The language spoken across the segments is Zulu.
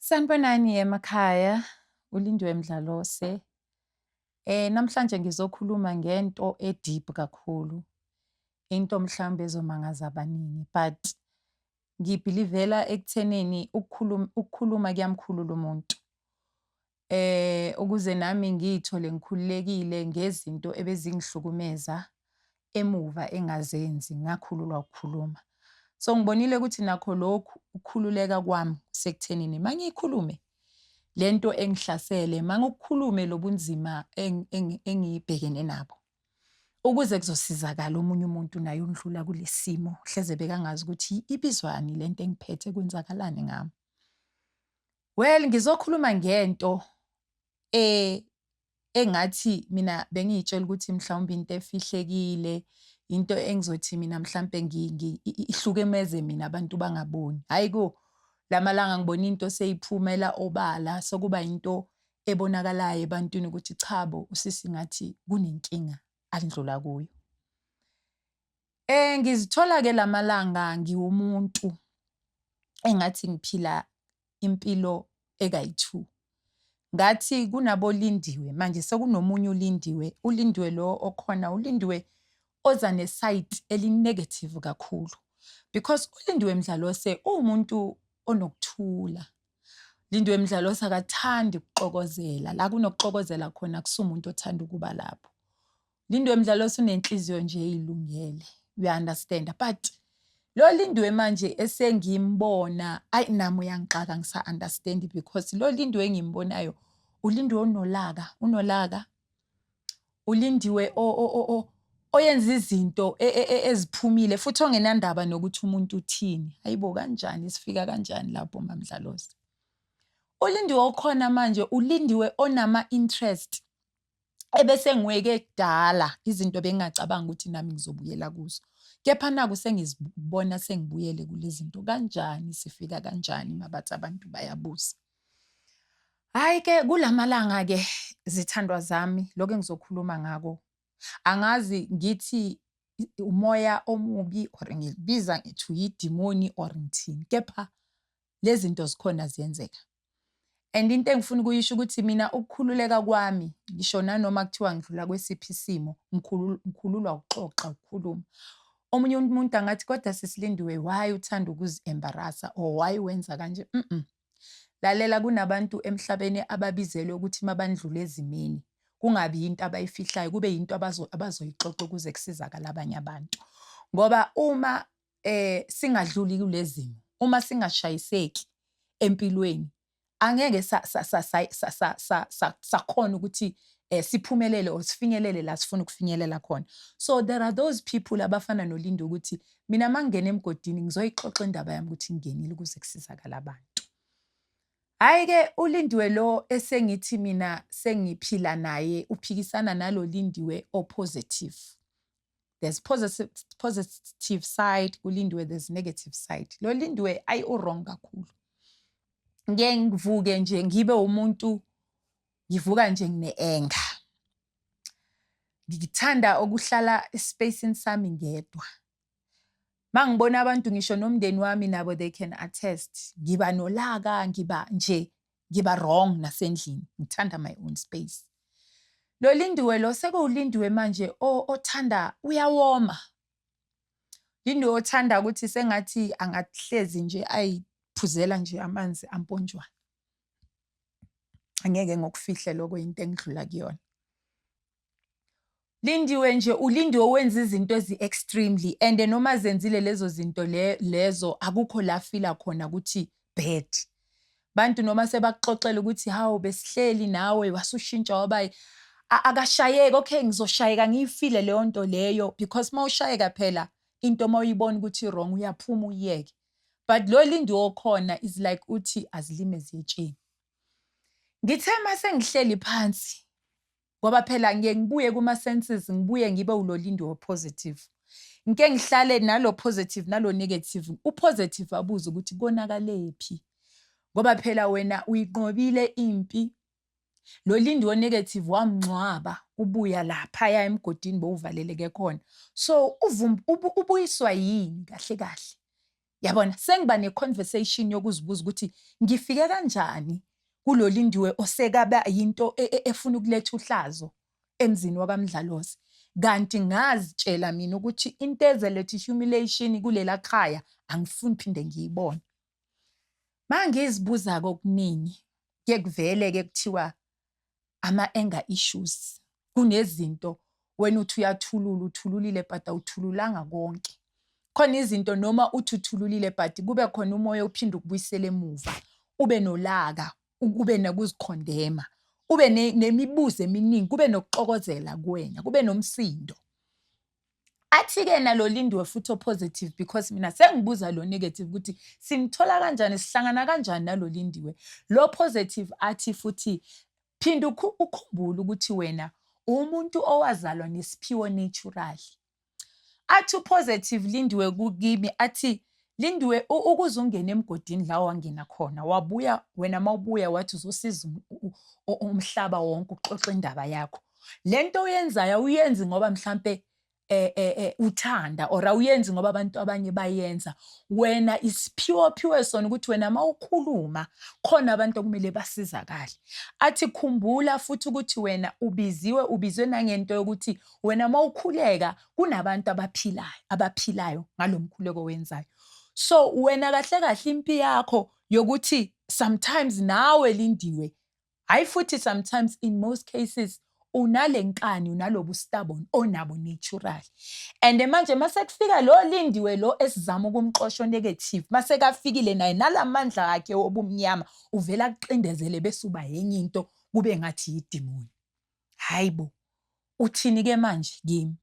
Sanibonani emakhaya, uLindiwe Mdlalose. Eh namhlanje ngizokhuluma ngento e-deep kakhulu. Into mhlawumbe ezomangaza abaningi but ngibhilivela ekuthenini ukukhuluma ukukhuluma kuyamkhulula umuntu. eh ukuze nami ngiyithole ngikhululekile ngezinto ebezingihlukumeza emuva engazenzi ngakhululwa ukukhuluma so ngibonile ukuthi nakho lokhu ukukhululeka kwami sekuthenini mangiyikhulume lento engihlasele mangokukhulume lobunzima engibhekene nabo ukuze kuzosizakala omunye umuntu naye undlula kulesimo hleze bekangazi ukuthi ibizwani lento engiphethe kwenzakalani ngami Well ngizokhuluma ngento e engathi mina bengiyitshela ukuthi mhlawumbe into efihlekile into engizothi mina mhlampe ihlukemeze mina abantu bangaboni hayi ko lamalanga ngibona into seyiphumela obala sokuba into ebonakalayo ebantwini ukuthi chabo usisi ngathi kunenkinga andlula kuyo Eh ngizithola ke lamalanga ngiwumuntu engathi ngiphila impilo ekayi-2. Ngathi kunabolindiwe manje sekunomunye ulindiwe, ulindiwe lo okhona ulindiwe oza nesayidi elinegative kakhulu because ulindiwe mdlalose uwumuntu onokuthula. Lindiwe mdlalose akathandi ukuxokozela, la kunokuxokozela khona kusumuntu othanda ukuba lapho. Lindwe mdlalo osunenhliziyo nje ilungele you understand but lo lindwe manje esengimbona ayi nami uyangixaka ngisa understand because lo lindwe engimbonayo ulindwe onolaka unolaka ulindiwe o o o oyenza izinto e, e, e, eziphumile futhi ongenandaba nokuthi umuntu uthini hayibo kanjani sifika kanjani lapho mamdlalosi ulindiwe okhona manje ulindiwe onama interest ebese ngiweke kudala izinto bengingacabanga ukuthi nami ngizobuyela kuzo kepha naku sengizibona sengibuyele kulezinto kanjani sifika kanjani mabathi abantu bayabuza hayi ke kulamalanga ke zithandwa zami lokho engizokhuluma ngako angazi ngithi umoya omubi or ngibiza ngithi uyidimoni or ngithini kepha lezi zinto zikhona ziyenzeka and into engifuna ukuyisho ukuthi mina ukukhululeka kwami ngisho nanoma kuthiwa ngidlula kwesiphi isimo ngikhululwa ukuxoxa ukukhuluma omunye umuntu angathi kodwa sisilindiwe why uthanda ukuzi-embarasa or why wenza kanje mm -mm. lalela kunabantu emhlabeni ababizelwe ukuthi mabandlule ezimini kungabi yinto abayifihlayo kube yinto abazoyixoxa ukuze kusizakala abanye abantu ngoba uma eh singadluli kulezimo uma singashayiseki empilweni angeke sakhona ukuthi eh siphumelele or sifinyelele la sifuna ukufinyelela khona so there are those people abafana nolindo ukuthi mina mangingena emgodini ngizoyixoxa indaba yami ukuthi ngingenile ukuze kusizakala abantu hayi ke ulindiwe lo esengithi mina sengiphila naye uphikisana nalo lindiwe opositive there's positive, positive side kulindiwe there's negative side lo lindiwe ayi urong kakhulu ngeke ngivuke nje ngibe umuntu ngivuka nje ngine-enga ngithanda ukuhlala espacini sami ngedwa ma ngibona abantu ngisho nomndeni wami nabo they can attest ngiba nolaka ngiba nje ngiba wrong nasendlini ngithanda my own space lo lindiwe lo sekuwulindiwe manje othanda uyawoma lindiwe othanda ukuthi sengathi angahlezi nje ayiphuzela nje amanzi amponjwana angeke ngokufihla lokho into engidlula kuyona Lindiwe nje ulindiwe wenza izinto ezi-extremely and noma zenzile lezo zinto le, lezo akukho la fila khona ukuthi bad bantu noma sebakuxoxela ukuthi hawu besihleli nawe wasushintsha wabayi akashayeki okay ngizoshayeka ngiyifile leyo nto leyo because uma ushayeka phela into uma uyibona ukuthi wrong uyaphuma uyiyeke but lo lindi okhona is like uthi azilime ziyetsheni ngithe uma sengihleli phansi ngoba phela ngiye ngibuye kuma-senses ngibuye ngibe ulolindi opositive ngike ngihlale nalo positive nalo negative upositive abuze ukuthi konakaleyephi ngoba phela wena uyinqobile impi lo lindi wonegative wamngcwaba ubuya lapha ya emgodini bowuvaleleke khona so ubuyiswa yini kahle kahle yabona sengiba neconversation yokuzibuza ukuthi ngifike kanjani kulolindiwe osekaba yinto e, e, efuna ukuletha uhlazo emzini wakamdlalozi kanti ngazitshela mina ukuthi into ezeletha ihumiliation kulela khaya angifuni phinde ngiyibone mangizibuza kokuningi kuyekuvele ke kuthiwa ama-anger issues. Kunezinto wena uthi uyathulula, uthululile but awuthululanga konke. Khona izinto noma uthi uthululile but kube khona umoya uphinde ukubuyisela emuva. Ube nolaka, ube nokuzikhondema, ube nemibuzo eminingi, kube nokuxokozela kuwena, kube nomsindo. athi-ke nalo lindiwe futhi opositive because mina sengibuza lo negative ukuthi simthola kanjani sihlangana kanjani nalo lindiwe lo positive athi futhi phinda ukhumbule ukuthi wena umuntu owazalwa nesiphiwo naturally athi upositive lindiwe kukimi athi Lindiwe ukuze ungene emgodini la wangena khona wabuya wena mawubuya wathi uzosiza umhlaba wonke uxoxa indaba yakho lento oyenzayo awuyenzi ngoba mhlambe eh eh eh uthanda or awuyenzi ngoba abantu abanye bayenza wena isiphiwo ophiwe sona ukuthi wena mawukhuluma khona abantu okumele basizakale athi khumbula futhi ukuthi wena ubiziwe ubizwe nangento yokuthi wena mawukhuleka kunabantu abaphilayo abaphilayo ngalo mkhuleko wenzayo so wena kahle kahle impi yakho yokuthi sometimes nawe lindiwe hayi futhi sometimes in most cases unale nkani unalobu stubborn onabo natural and manje mase kufika lo lindiwe lo esizama ukumxosha negative mase kafikile naye nalamandla akhe obumnyama uvela kuxindezele bese uba yenye into kube ngathi yidimoni hayi bo uthini ke manje kimi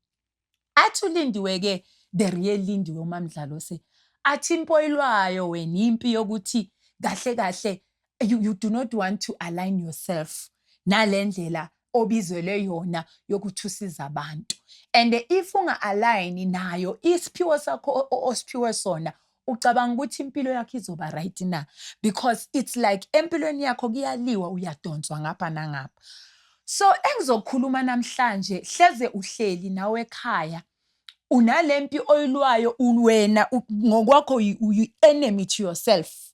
athi ulindiwe ke the real lindiwe umamdlalo se athi impoyilwayo wena impi yokuthi kahle kahle you, you do not want to align yourself nalendlela obizelwe yona yokuthi usiza abantu and if unga-align nayo isiphiwo sakho osiphiwe sona ucabanga ukuthi impilo yakho izoba right na because it's like empilweni yakho kuyaliwa uyadonswa ngapha nangapha so engizokhuluma namhlanje hleze uhleli nawe ekhaya unalempi oyilwayo wena ngokwakho uyi enemy to yourself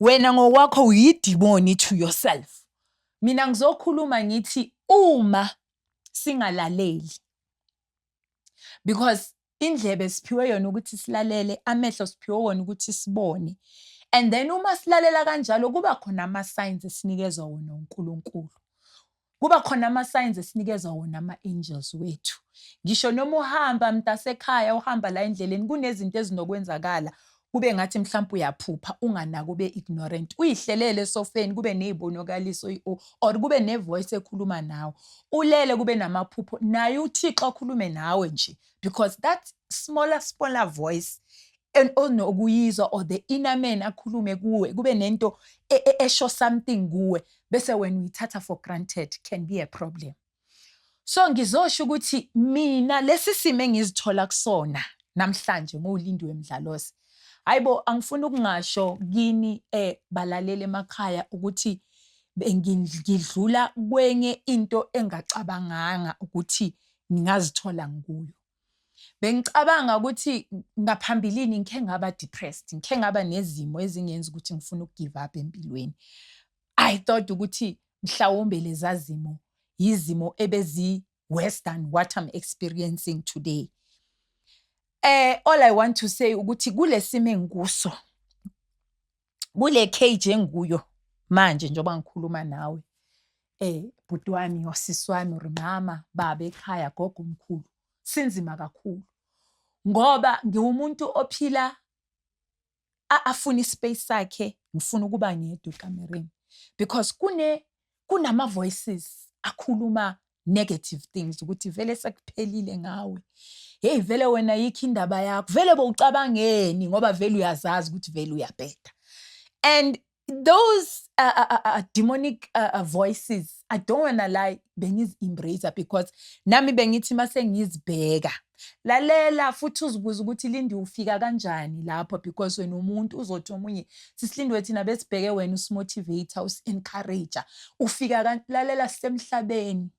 wena ngokwakho uyidimoni to yourself mina ngizokhuluma ngithi uma singalaleli because indlebe siphiwe yona ukuthi silalele amehlo siphiwe wona ukuthi sibone and then uma silalela kanjalo kuba khona ama-signs esinikezwa wona unkulunkulu kuba khona ama-signs esinikezwa wona ama-angels wethu ngisho noma uhamba mntasekhaya uhamba la endleleni kunezinto ezinokwenzakala Kube ngathi mhlawumbe uyaphupha unganaki ube ignorant. Uyihlelele esofeni kube nezibonakaliso iO or kube nevoice ekhuluma nawe. Ulele kube namaphupho naye uThixo akhulume nawe nje because that smaller smaller voice onokuyizwa or the inner man akhulume kuwe kube nento e, e, esho something kuwe bese wena uyithatha for granted can be a problem. so ngizosho ukuthi mina lesi simo engizithola kusona namhlanje nguLindiwe Mdlalose hayibo angifuni ukungasho kini eh balalele emakhaya ukuthi ngidlula kwenye into engacabanganga ukuthi ngingazithola ngikuyo Bengicabanga ukuthi ngaphambilini ngikhe ngaba depressed, ngikhe ngaba nezimo ezingenza ukuthi ngifune ukugive up empilweni. I thought ukuthi mhlawumbe leza zimo yizimo ebezi worse than what I'm experiencing today. Eh all I want to say ukuthi kulesimo engikuso kule cage engikuyo manje njengoba ngikhuluma nawe eh bhuti wami wasisi wami or mama baba ekhaya gogo omkhulu sinzima kakhulu ngoba ngiwumuntu ophila afuna ispace sakhe ngifuna ukuba ngedwa ekamereni because kune kunama voices akhuluma negative things ukuthi vele sekuphelile ngawe hey vele wena yikho indaba yakho vele bowucabangeni ngoba vele uyazazi ukuthi vele uyabheda and those uh, uh, uh, uh demonic uh, uh, voices i don't wanna lie bengizi-embrace because nami bengithi uma sengizibheka lalela futhi uzibuze ukuthi lindi ufika kanjani lapho because wena umuntu uzothi omunye sisilindwe thina besibheke wena usimotivator usi-encourager ufika lalela sisemhlabeni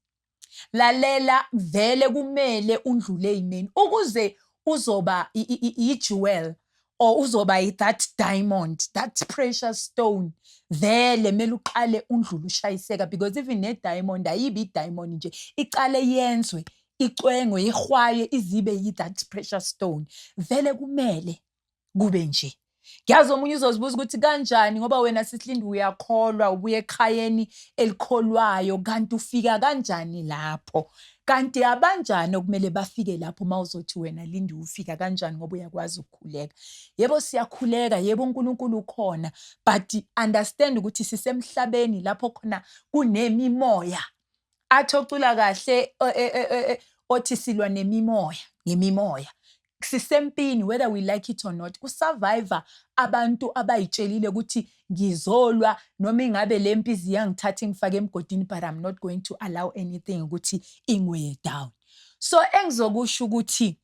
lalela vele kumele undlule imeni ukuze uzoba yi-jewel or uzoba yi-that diamond that precious stone vele kumele uqale undlule ushayiseka because even ne-diamond ayibi i-diamond nje iqale yenzwe icwengo ihwaye izibe yi-that precious stone vele kumele kube nje ngiyazi omunye uzozibuza ukuthi kanjani ngoba wena sihlindi uyakholwa ubuye ekhayeni elikholwayo kanti ufika kanjani lapho Kanti abanjani okumele bafike lapho uma uzothi wena lindi ufika kanjani ngoba uyakwazi ukukhuleka. Yebo siyakhuleka, yebo uNkulunkulu ukhona, but understand ukuthi sisemhlabeni lapho khona kunemimoya. Athi ocula kahle e, e, e, othi silwa nemimoya, ngemimoya. sisempini whether we like it or not kusurvivor abantu abayitshelile ukuthi ngizolwa noma ingabe le mpi ziyangithatha ingifake emgodini but i'm not going to allow anything ukuthi ingweye down so engizokusho ukuthi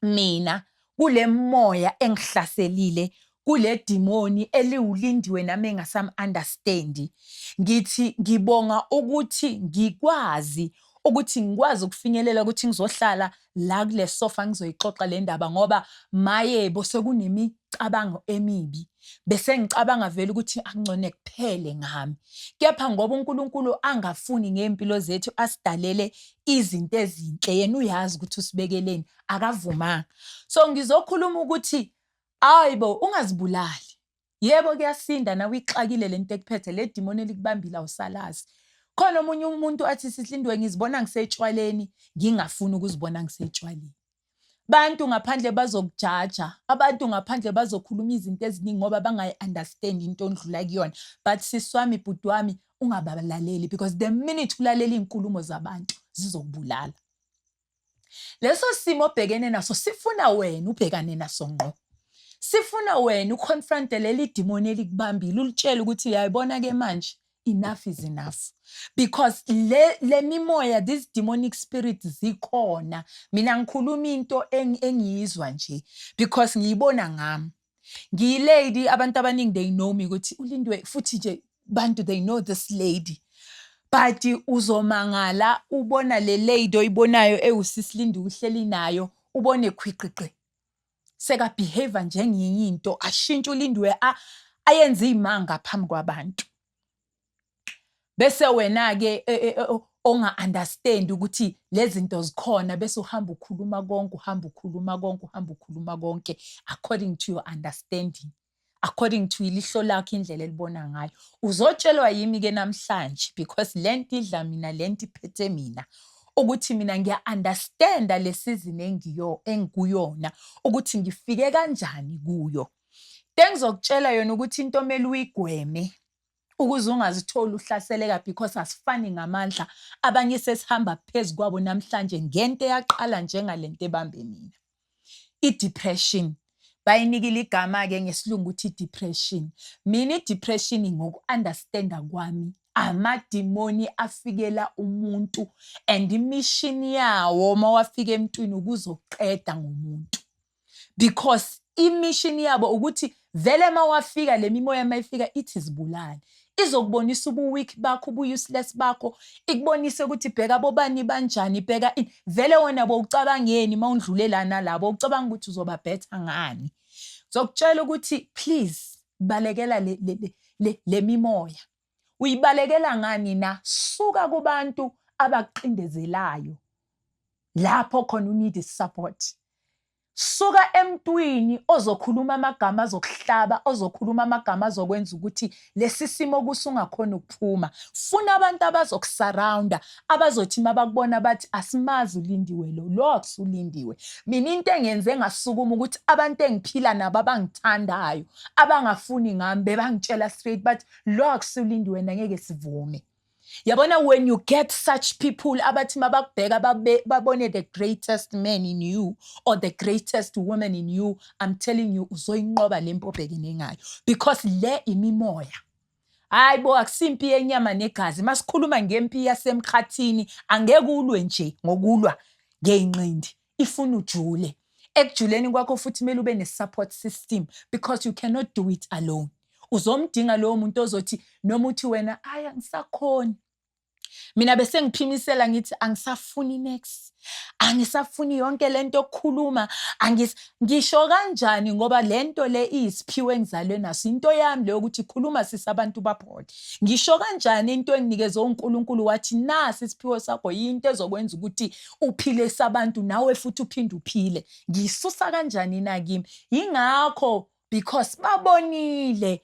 mina kule moya engihlaselile kule dimoni eliwulindiwe nami engasam understand ngithi ngibonga ukuthi ngikwazi ukuthi ngikwazi ukufinyelela ukuthi ngizohlala la kule sofa ngizoyixoxa le ndaba ngoba mayebo sekunemicabango emibi bese ngicabanga vele ukuthi akungcone kuphele ngami kepha ngoba uNkulunkulu angafuni ngempilo zethu asidalele izinto ezinhle yena uyazi ukuthi usibekeleni akavumanga so ngizokhuluma ukuthi Aybo ungazibulali yebo kuyasinda nawe ixakile lento ekuphethe le dimoni elikubambile awusalazi khona omunye umuntu athi sihlindwe ngizibona ngisetshwaleni ngingafuni ukuzibona ngisetshwaleni bantu ngaphandle bazokujaja abantu ngaphandle bazokhuluma izinto eziningi ngoba bangayi-understand into ondlula kuyona but sisi wami bhuti wami ungabalaleli because the minute ulalela iy'nkulumo zabantu zizokubulala leso simo obhekene naso sifuna wena ubhekane naso ngqo sifuna wena uconfronte leli dimoni elikubambile ulitshele ukuthi uyayibona ke manje enough is enough because le le mimoya these demonic spirits zikhona mina ngikhuluma into engiyizwa nje because ngiyibona ngami ngiyilady abantu abaningi they know me ukuthi ulindwe futhi nje bantu they know this lady but uzomangala ubona le lady oyibonayo ewusisilindi uhleli nayo ubone khwiqiqi sekabehave njengenye into ashintshe ulindiwe ayenze izimanga phambi kwabantu bese wena ke e, e, e, onga understand ukuthi lezinto zikhona bese uhamba ukhuluma konke uhamba ukhuluma konke uhamba ukhuluma konke according to your understanding according to ilihlo lakho indlela elibona ngayo uzotshelwa yimi ke namhlanje because lento idla mina lento iphethe mina ukuthi mina ngiya understand lesizini engiyo engikuyona ukuthi ngifike kanjani kuyo Tengizokutshela yona ukuthi into omele uyigweme ukuze ungazitholi uhlaseleka because asifani ngamandla abanye sesihamba phezu kwabo namhlanje ngento eyaqala njengale nto ebambe mina i-depression bayinikile igama-ke ngesilungu ukuthi i-depression mina i-depression ngoku-understanda kwami amadimoni afikela umuntu and imishini yawo uma wafika emntwini ukuzoqeda ngomuntu because imishini yabo ukuthi vele uma wafika le mimoya uma ifika ithi zibulale izokubonisa ubuweak bakho ubuuseless bakho ikubonise ukuthi bheka bobani banjani bheka vele wona bowucabangeni uma undlulelana labo ucabanga ukuthi uzoba better ngani zokutshela ukuthi please balekela le, le, le, le, le mimoya Uyibalekela ngani na? Suka kubantu abakucindezelayo lapho khona u need support. Suka emntwini ozokhuluma amagama azokuhlaba, ozokhuluma amagama azokwenza ukuthi lesi simo kuso ungakhona ukuphuma. Funa abantu abazokusurrounda, abazothi mabakubona bathi asimazi ulindiwe lo, lo akusulindiwe. Mina into engenze ngasukuma ukuthi abantu engiphila nabo abangithandayo, abangafuni ngami bebangitshela straight bathi lo akusulindi wena ngeke sivume yabona when you get such people abathi mabakubheka babone the greatest man in you or the greatest woman in you i'm telling you uzoyinqoba le mpi obhekene ngayo because le imimoya hayi bo akusimpi yenyama negazi masikhuluma ngempi yasemkhathini angeke ulwe nje ngokulwa ngeyinqindi ifuna ujule ekujuleni kwakho futhi kumele ube ne-support system because you cannot do it alone uzomdinga lowo muntu ozothi noma uthi wena ayi angisakhoni mina bese ngiphimisela ngithi angisafuni next angisafuni yonke lento okukhuluma angis ngisho kanjani ngoba lento le isiphiwe engizalwe naso into yami leyo ukuthi khuluma sisi abantu baphole ngisho kanjani into enginikeze uNkulunkulu wathi nasi isiphiwe sakho into ezokwenza ukuthi uphile sabantu nawe futhi uphinde uphile ngisusa kanjani na kimi yingakho because babonile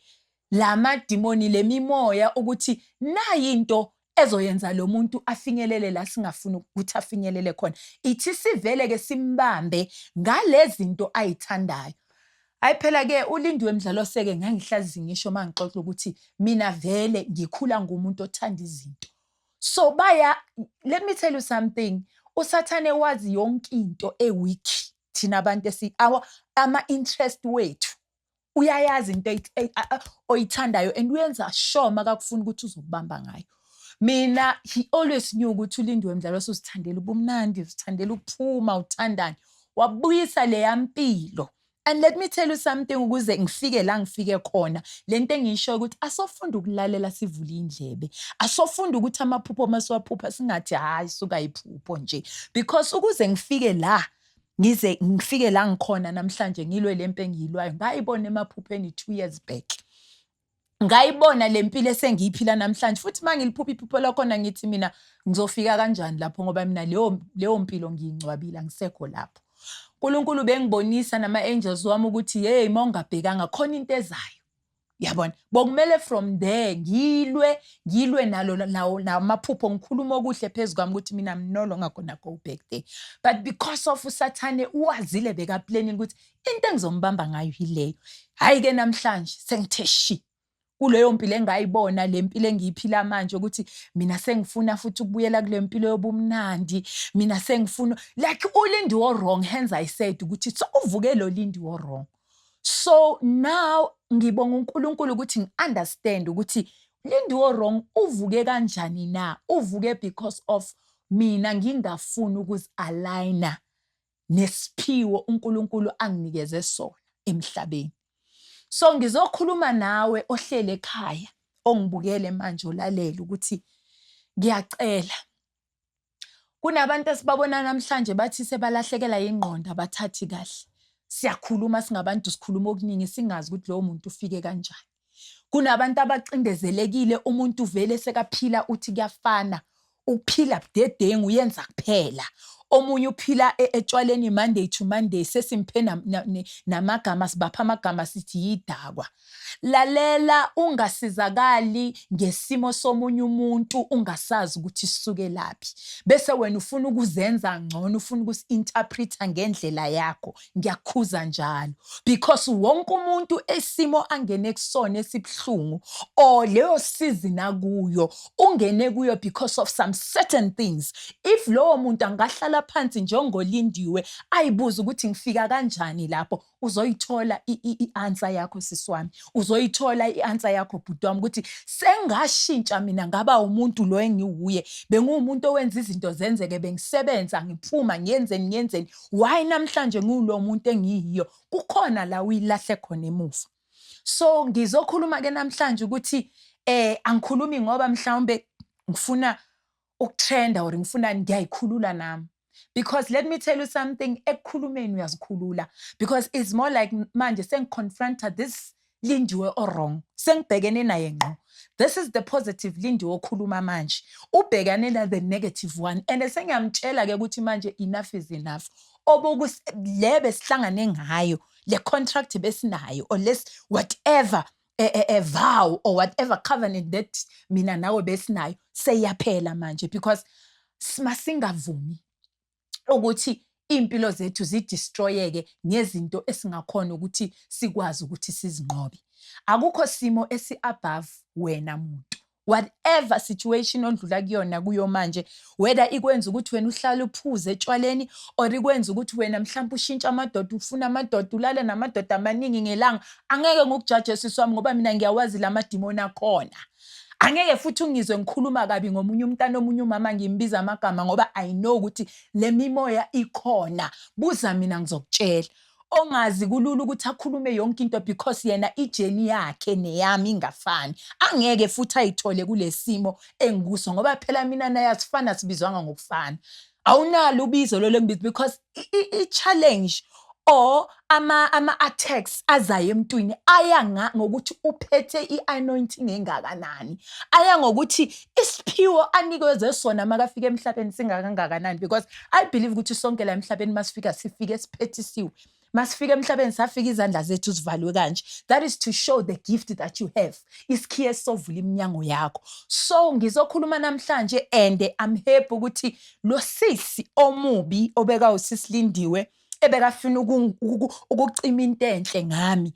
lamadimoni lemimoya ukuthi nayinto ezoyenza lo muntu afinyelele la singafuni ukuthi afinyelele khona ithi sivele ke simbambe ngalezinto ayithandayo hayi phela ke ulindiwe mdlalo seke ngangihlazi ngisho mangixoxa ukuthi mina vele ngikhula ngumuntu othanda izinto so baya let me tell you something usathane wazi yonke into eweak thina abantu esi ama interest wethu uyayazi into oyithandayo and uyenza sure makakufuna ukuthi uzokubamba ngayo mina he always knew ukuthi ulindiwe mdlalo usuzithandela ubumnandi uzithandela ukuphuma uthandane wabuyisa leya mpilo And let me tell you something ukuze ngifike la ngifike khona lento engiyisho ukuthi asofunda ukulalela sivule indlebe asofunda ukuthi amaphupho uma siwaphupha singathi hayi suka iphupho nje because ukuze ngifike la ngize ngifike la ngikhona namhlanje ngilwe lempe engiyilwayo ngayibona emaphupheni 2 years back ngayibona le mpilo esengiyiphila namhlanje futhi uma ngiliphupha iphupho lakhona ngithi mina ngizofika kanjani lapho ngoba mina leyo leyo mpilo ngiyingcwabile angisekho lapho uNkulunkulu bengibonisa nama angels wami ukuthi hey mawungabhekanga khona into ezayo yabona bokumele from there ngilwe ngilwe nalo lawo namaphupho ngikhuluma okuhle phezu kwami ukuthi mina mnolo ngakona go back there but because of usathane uwazile beka planning ukuthi into engizombamba ngayo yileyo hhayi ke namhlanje sengithe shi kuleyo mpilo engayibona le mpilo engiyiphila manje ukuthi mina sengifuna futhi ukubuyela kule mpilo yobumnandi mina sengifuna like ulindi wo wrong hands i said ukuthi so uvuke lo lindi wo wrong so now ngibonga uNkulunkulu ukuthi ngiunderstand ukuthi lindi wo wrong uvuke kanjani na uvuke because of mina ngingafuni ukuzi aligner nesiphiwo uNkulunkulu anginikeze sona emhlabeni. So ngizokhuluma nawe ohlele ekhaya ongibukele manje olalele ukuthi ngiyacela kunabantu esibabona namhlanje bathi sebalahlekela yingqondo abathathi kahle siyakhuluma singabantu sikhuluma okuningi singazi ukuthi lowo muntu ufike kanjani kunabantu abacindezelekile umuntu vele sekaphila uthi kuyafana ukuphila budedengu uyenza kuphela omunye uphila e, etshwaleni monday to monday sesimphe namagama sibapha amagama sithi yidakwa lalela ungasizakali ngesimo somunye umuntu ungasazi ukuthi sisuke laphi bese wena ufuna ukuzenza ngcono ufuna ukusi-interpreta ngendlela yakho ngiyakhuza njalo because wonke umuntu esimo angene kusona esibuhlungu or leyo season akuyo ungene kuyo because of some certain things if lowo muntu angahlala phansi njengolindiwe ayibuza ukuthi ngifika kanjani lapho uzoyithola i-answer yakho sisi wami uzoyithola i-answer yakho bhuti wami ukuthi sengashintsha mina ngaba umuntu lo engiwuye benguwumuntu owenza izinto zenzeke bengisebenza ngiphuma ngiyenzeni ngiyenzeni why namhlanje ngiwulo muntu engiyiyo kukhona la uyilahle khona emuva so ngizokhuluma ke namhlanje ukuthi eh angikhulumi ngoba mhlawumbe ngifuna ukutrenda or ngifuna ngiyayikhulula nami because let me tell you something ekukhulumeni uyazikhulula because it's more like manje sengiconfronta this Lindiwe owrong sengibhekene naye ngqo this is the positive Lindiwe okhuluma manje ubhekane na the negative one and sengiyamtshela ke ukuthi manje enough is enough oboku le besihlangane ngayo le contract besinayo or less whatever a, a, a vow or whatever covenant that mina nawe besinayo seyaphela manje because masingavumi ukuthi iy'mpilo zethu zidistroyeke ngezinto esingakhona ukuthi sikwazi ukuthi sizinqobe akukho simo esi-above wena muntu whatever situation ondlula kuyona kuyo manje whether ikwenza ukuthi wena uhlale uphuze etshwaleni or ikwenza ukuthi wena mhlawumbe ushintshe amadoda ufuna amadoda ulale namadoda amaningi ngelanga angeke ngikujaje sisi wami ngoba mina ngiyawazi la madimoni akhona angeke futhi ungizwe ngikhuluma kabi ngomunye umntana omunye umama ngimbiza amagama ngoba i know ukuthi le mimoya ikhona buza mina ngizokutshela ongazi kulula ukuthi akhulume yonke into because yena ijeni yakhe neyami ingafani angeke futhi ayithole kulesimo engikuso ngoba phela mina naye asifana sibizwanga ngokufana awunalo ubizo lolo ngibizo because i-challenge or ama-attacks azayo emntwini aya ngokuthi uphethe i-anointing engakanani, aya ngokuthi isiphiwo anikezwe sona makafika emhlabeni singakangakanani because I believe ukuthi sonke la emhlabeni masifika sifike siphethisiwe. Masifika emhlabeni safika izandla zethu zivalwe kanje. That is to show the gift that you have. Isikhiye sovula iminyango yakho. So ngizokhuluma namhlanje and I'm happy ukuthi lo sisi omubi obeka usisi Lindiwe ebekafuna ukucima into enhle ngami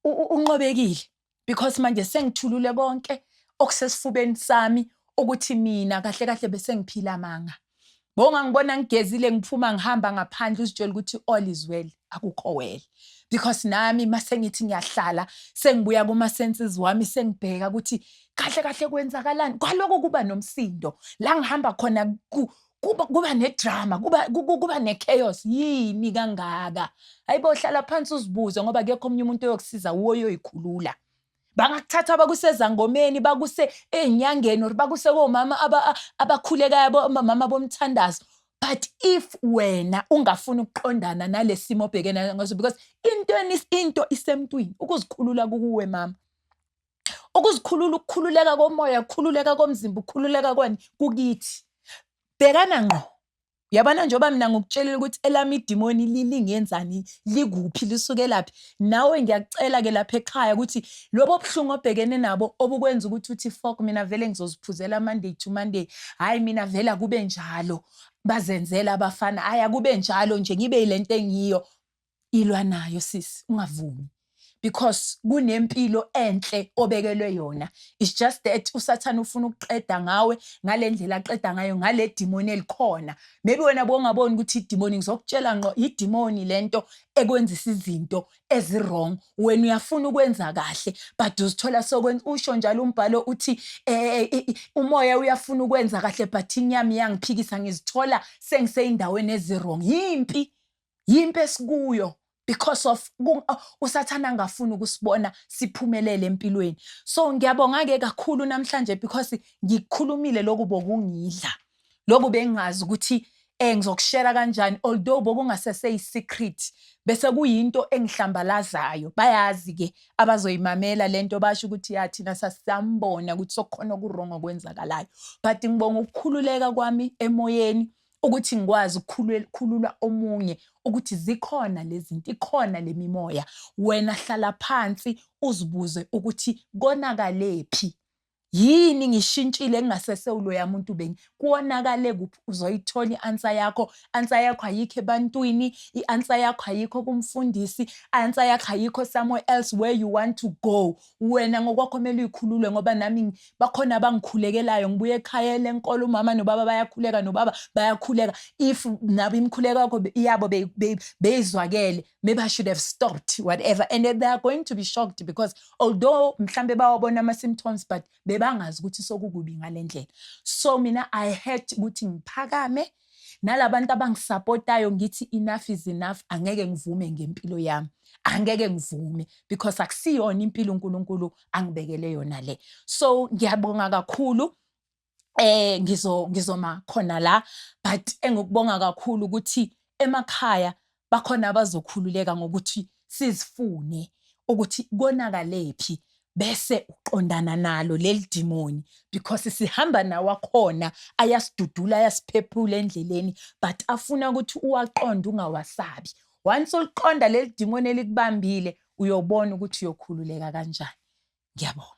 unqobekile because manje sengithulule konke okusesifubeni sami ukuthi mina kahle kahle bese ngiphila amanga bonga ngibona ngigezile ngiphuma ngihamba ngaphandle uzitshela ukuthi all is well akukho well because nami mase ngithi ngiyahlala sengibuya kuma senses wami sengibheka ukuthi kahle kahle kwenzakalani kwaloko kuba nomsindo la ngihamba khona kuba kuba nedrama kuba kuba nechaos yini kangaka hayibo hlala phansi uzibuze ngoba akekho omunye umuntu oyokusiza uwo oyoyikhulula bangakuthatha bakusezangomeni bakuse ezinyangeni or bakuse komama abakhulekayo mama bomthandazo but if wena ungafuni ukuqondana nalesimo obhekene ngaso because into into isemntwini ukuzikhulula kuwe mama Ukuzikhulula, ukukhululeka komoya, ukukhululeka komzimba, ukukhululeka kwani kukithi. Bhekana ngqo. Yabona njengoba mina ngikutshelile ukuthi elami idimoni lingenzani, likuphi, lisukelaphi. Nawe ngiyakucela-ke lapha ekhaya ukuthi lobo buhlungu obhekene nabo obukwenza ukuthi uthi fok mina vele ngizoziphuzela Monday to Monday. Hhayi mina vele akube njalo. Bazenzela abafana. Hhayi akube njalo nje ngibe yile nto engiyo. Ilwa nayo sisi ungavumi because kunempilo enhle obekelwe yona it's just that usathane ufuna ukuqeda ngawe ngalendlela aqeda ngayo ngale demoni elikhona maybe wena bongaboni ukuthi idemoni ngizokutshela ngqo idemoni lento ekwenzisa izinto ezirong wena uyafuna ukwenza kahle but uzithola sokwenza usho njalo umbhalo uthi eh, eh, eh umoya uyafuna ukwenza kahle but inyama iyangiphikisa ngizithola sengiseyindaweni ezirong yimpi yimpi esikuyo because of usathane angafuni ukusibona siphumelele empilweni so ngiyabonga ke kakhulu namhlanje because ngikhulumile lokhu bokungidla lokhu bengazi ukuthi eh ngizokushera kanjani although bokungasese isecret bese kuyinto engihlambalazayo bayazi ke abazoyimamela lento basho ukuthi ya thina sasambona ukuthi sokukhona okuwrong okwenzakalayo but ngibonga ukukhululeka kwami emoyeni ukuthi ngikwazi ukukhulula omunye ukuthi zikhona lezinto ikhona lemimoya wena hlala phansi uzibuze ukuthi konakalепhi yini ngishintshile ngingasese uloya muntu bengi kuwonakale kuphi uzoyithola i-answer yakho answer yakho ayikho ebantwini i-answer yakho ayikho kumfundisi i-answer yakho ayikho somewhere else where you want to go wena ngokwakho kumele uyikhulule ngoba nami bakhona abangikhulekelayo ngibuye ekhaya lenkolo umama nobaba bayakhuleka nobaba bayakhuleka if nabo imikhuleko yakho yabo beyizwakele maybe i should have stopped whatever and they are going to be shocked because although mhlambe bawabona ama-symptoms but bebangazi ukuthi sokukubi ngale ndlela so mina i had ukuthi ngiphakame Nalabantu abangisapotayo ngithi enough is enough angeke ngivume ngempilo yami. Angeke ngivume because akusiyona impilo uNkulunkulu angibekele yona le. So ngiyabonga kakhulu eh ngizo ngizoma khona la but engikubonga kakhulu ukuthi emakhaya bakhona abazokhululeka ngokuthi sizifune ukuthi konakalephi bese uqondana nalo leli dimoni because sihamba nawo akhona ayasidudula ayasiphephula endleleni but afuna ukuthi uwaqonde ungawasabi once uliqonda leli dimoni elikubambile uyobona ukuthi uyokhululeka kanjani ngiyabonga